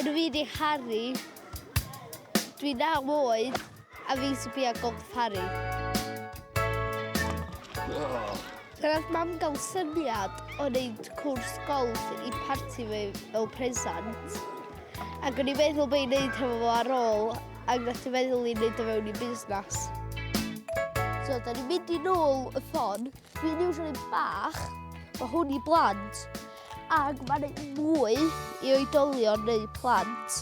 Rydw i wedi caru. Dwi naw oed a fi'n sbio golf Harry. Gwnaeth mam gael syniad o wneud cwrs golf i parti fi fel presant. Ac o'n i'n meddwl bod i'n gwneud hefo fo ar ôl, ac gwnaeth i'n meddwl i'n gwneud o fewn i busnes. So, da ni'n mynd i nôl y ffon. Dwi'n iwsio ni bach, mae hwn i blant. Ac mae'n ei mwy i oedolion neu plant.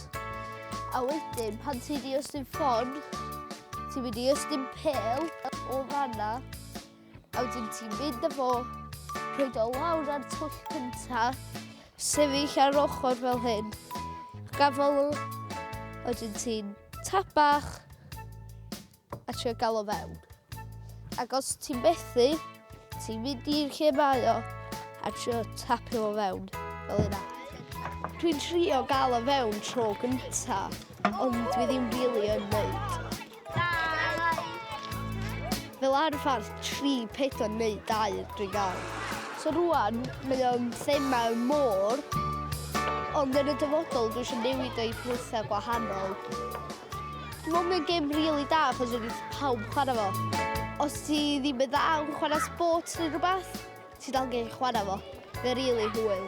A wedyn, pan ti'n i ystyn ffon, ti'n mynd i ystyn pel o fanna, a wedyn ti'n mynd â fo, rhoi o lawr ar twll cynta, sefyll ar ochr fel hyn, gafel, a wedyn ti'n tapach, A trio gael o fewn. Ac os ti'n methu, ti'n mynd i'r lle mae o a trio tapio o fewn, fel yna. Dwi'n trio gael o fewn tro gynta, ond dwi ddim really yn neud. Fel arfer, tri, pedwar neu dau dwi'n gael. So rwan, mae o'n thema y môr, ond yn y dyfodol dwi eisiau newid o'i pethau gwahanol. Dwi'n meddwl mae'n gêm rili da achos wedi pawb yn chwarae fo. Os ti ddim yn dda yn chwarae sports neu rhywbeth, ti dal yn gallu chwarae fo. Mae'n rili hwyl.